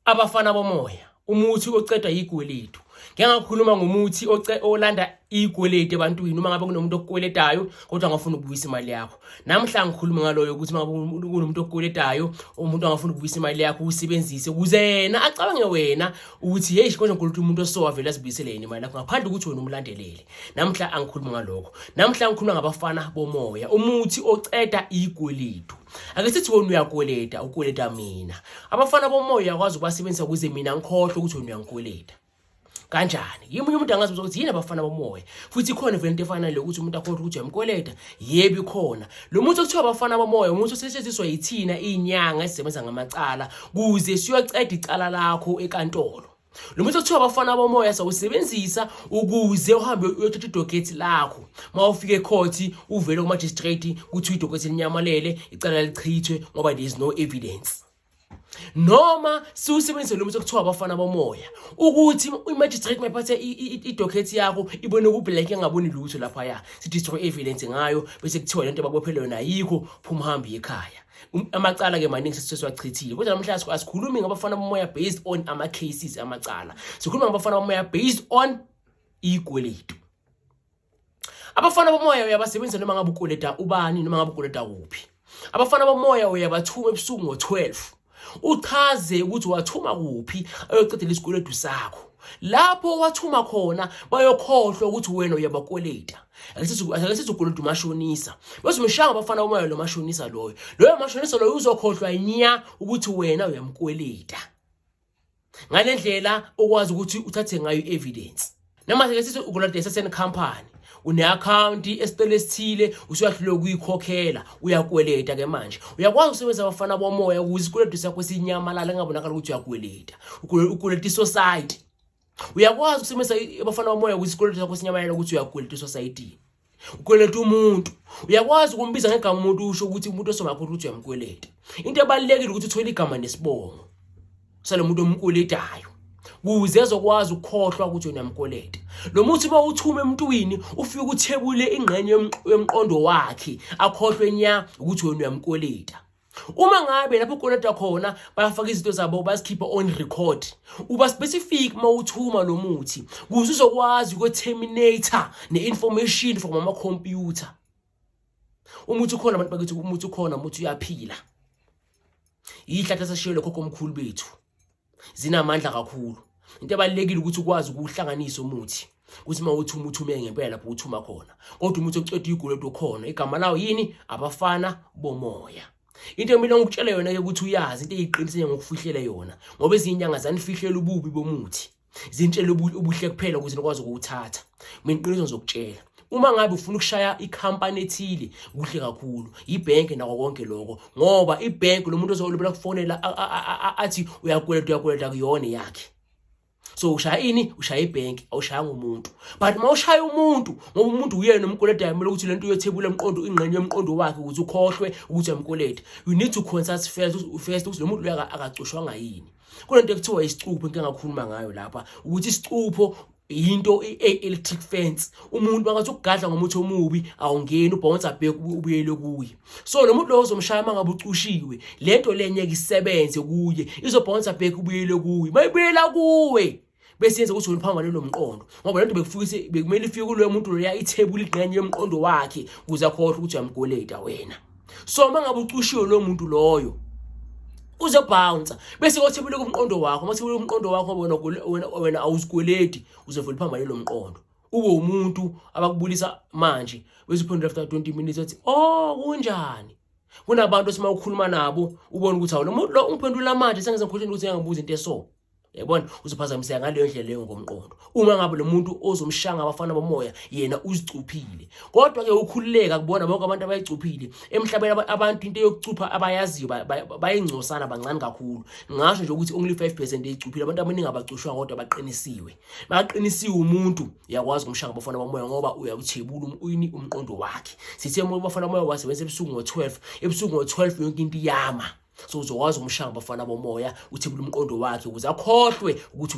abafana bomoya umuthi ocedwa yikweletu ngeke ngakhuluma ngomuthi olanda iyikweleti ebantwini uma ngabe kunomuntu okukweletayo kodwa angafuni ukubuyisa imali yakho namhla ngikhuluma ngaloyo ukuthi uma ngabe kunomuntu okukweletayo umuntu angafuni ukubuyisa imali yakho usebenzise ukuze yena acabange wena ukuthi heyi konje nkuluthi umuntu osowa vele azibuyisele yena imali yakho ngaphandle ukuthi wena umlandelele namhla angikhuluma ngalokho namhla ngikhuluma ngabafana bomoya umuthi oceda iyikweletu ake sithi wena uyakweleta ukweleta mina abafana bomoya uyakwazi ukubasebenzisa ukuze mina ngikhohlwe ukuthi wena uyangikweleta kanjani yimi umuntu angazi ukuthi yini abafana bomoya futhi ikhona vele into efana le ukuthi umuntu akhohlwe ukuthi uyamkweleta yebi khona lo muntu okuthiwa abafana bomoya umuntu osetshenziswa yithina iy'nyanga esisebenza ngamacala kuze siyoceda icala lakho ekantolo lo muthi okuthiwa abafana bomoya sawusebenzisa ukuze uhambe uyothatha idokethi lakho uma ufika ekhothi uvele kumajistrate kuthiwa idokethi linyamalele icala lichithwe ngoba there is no evidence noma siwusebenzise lo muthi okuthiwa abafana bomoya ukuthi imagistrate mayiphathe idokethi yakho ibone kublack engaboni lutho laphaya si-destroy evidence ngayo bese kuthiwa le nto babophele yona yikho phuma uhambe ekhaya Um, amacala ke maningi sesiwachithile kodwa namhlanje asikhulumi ngabafana bomoya based on ama cases amacala sikhuluma ngabafana bomoya based on ikweletu abafana bomoya uyabasebenzisa noma ngabe ukweleta ubani noma ngabe ukweleta kuphi abafana bomoya uyabathuma ebusuku ngo-12 uchaze ukuthi wathuma kuphi ayoqedela isikweletu sakho lapho wathuma khona bayokhohlwa ukuthi wena uyabakweleta akesizugula umuntu umashonisa bese umshaya abafana umoya lo mashonisa loyo loyo mashonisa loyo uzokhohlwa nya ukuthi wena uyamkweleta ngale ndlela okwazi ukuthi uthathe ngayo i-evidence noma sesithi ukolota eseseni company une-akhawunti esitolo esithile usuyahlulwe ukuyikhokhela uyakweleta ke manje uyakwazi ukusebenzisa abafana bomoya ukuze isikweletu sakho sinyamalala engabonakala ukuthi uyakweleta ukweleta isosayiti uyakwazi ukusebenzisa abafana bomoya ukuthi isikweletu sakho sinyamalele ukuthi uyakweleta esosayidini ukweleta umuntu uyakwazi ukumbiza ngegama umuntu usho ukuthi umuntu osongakho ukuthi uyamkweleta into ebalulekile ukuthi uthole igama nesibongo salo muntu omkweletayo kuze ezokwazi ukukhohlwa ukuthi unamkweleta lo muthi uma uthume emntwini ufike uthebule ingqenye yomqondo wakhe akhohlwe nya ukuthi wena uyamkweleta uma ngabe lapho ukoleta khona bayafaka izinto zabo bazikhiphe on record uba specific uma uthuma lo muthi kuze uzokwazi ukwe-terminator ne-information from amakhompyutha umuthi ukhona abantu bakithi umuthi ukhona umuthi uyaphila yihlathi esashiyelwe khokho omkhulu bethu zinamandla kakhulu into ebalekile ukuthi ukwazi ukuhlanganisa umuthi ukuthi uma uthi umuthi ume ngempela lapho uthi uma khona kodwa umuthi oceda igulo edo khona igama lawo yini abafana bomoya into emile ngikutshela yona ke ukuthi uyazi into eyiqinisile ngokufihlela yona ngoba izinyanga zanifihlela ububi bomuthi zintshela ubuhle kuphela ukuthi nikwazi ukuwuthatha mina iqiniso ngizokutshela uma ngabe ufuna ukushaya ikhampani ethile kuhle kakhulu yibhenki nako konke lokho ngoba ibhenki lo muntu ozolibela kufonela athi uyakweleta uyakweleta kuyona yakhe so ushaya ini ushaya ibhenki awushaya ngomuntu but uma ushaya umuntu ngoba umuntu uyena umkweleta yamele ukuthi lento uyothebula umqondo ingqenye yomqondo wakhe ukuthi ukhohlwe ukuthi amkweleta you need to consult first first ukuthi lo muntu akacoshwanga yini kunento ekuthiwa isicupho into engakhuluma ngayo lapha ukuthi isicupho yinto i-electric fence umuntu bangathi ukugadla ngomuthi omubi awungeni ubhonsa bheke ubuyele kuye so lo muntu lowo uzomshaya uma ngabe ucushiwe le nto le ngeke isebenze kuye izobhonsa bheke ubuyele kuye uma ibuyela kuwe bese yenza ukuthi uliphambane nomqondo ngoba lento bekufikise bekumele ifike kuloyo muntu loya ithebula igqenye yomqondo wakhe ukuze akhohle ukuthi uyamgoleta wena so uma ngabe ucushiwe lowo muntu loyo uzobounsa bese kothebule kumqondo wakho uma thebule kumqondo wakho wena wena wena awuzikweledi uzovela phambane lo mqondo ube umuntu abakubulisa manje bese uphendula after 20 minutes wathi oh kunjani kunabantu esima ukhuluma nabo ubona ukuthi awulo muntu lo ungiphendula manje sengize ngikhohleni ukuthi ngiyabuza into eso yabona uzophazamiseka ngaleyo ndlela leyo ngomqondo uma ngabe lo muntu ozomshanga abafana bomoya yena uzicuphile kodwa-ke ukhululeka kubona bonke abantu abayicuphile emhlabeni abantu into yokucupha abayaziyo bayingcosana bancane kakhulu ngasho nje ukuthi only 5 percent eyicuphile abantu abaningi abacushwa kodwa baqinisiwe makaqinisiwe umuntu uyakwazi ukumshanga abafana bomoya ngoba uyakuthebula um-, uyini umqondo wakhe sithe uma abafana bomoya wasebenza ebusuku ngo-12 ebusuku ngo-12 yonke into iyama so uzokwazi umshaya bafana bomoya uthi kulumqondo wakhe ukuze akhohlwe ukuthi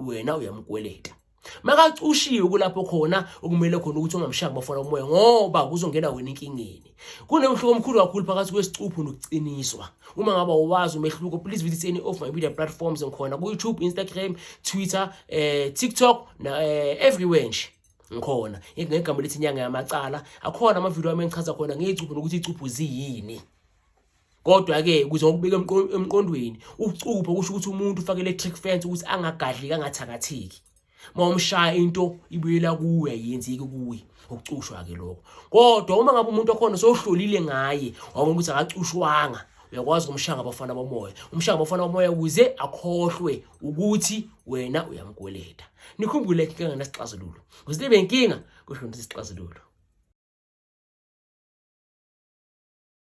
wena uyamkweleta makacushiwe kulapho khona okumele khona ukuthi ungamshaya bafana umoya ngoba kuzongena wena inkingeni kunomhluko omkhulu kakhulu phakathi kwesicuphu nokuciniswa uma ngaba uwazi umehluko please visit any of my media platforms ngikhona ku-youtube instagram twitter eh, tiktok na, eh, everywhere nje ngikhona ngegama lethi inyanga yamacala akhona amavidiyo ami engichaza khona ngeyicuphu nokuthi icuphu ziyini Kodwa-ke ukuze ngokubika emqondweni ukucupha kusho ukuthi umuntu ufake electric fence ukuthi angagadliki angathakatheki. Uma umshaya into ibuyela kuwe ayenzeki kuwe ukucushwa-ke lokho. Kodwa uma ngabe umuntu okhona sowuhlolile ngaye wabona ukuthi akacushwanga uyakwazi ukumshaya ngabafana bomoya umshaya ngabafana bomoya ukuze akhohlwe ukuthi wena uyamkweleta nikhumbule inkinga ngenasixazululo kuze libe inkinga kusho ukuthi isixazululo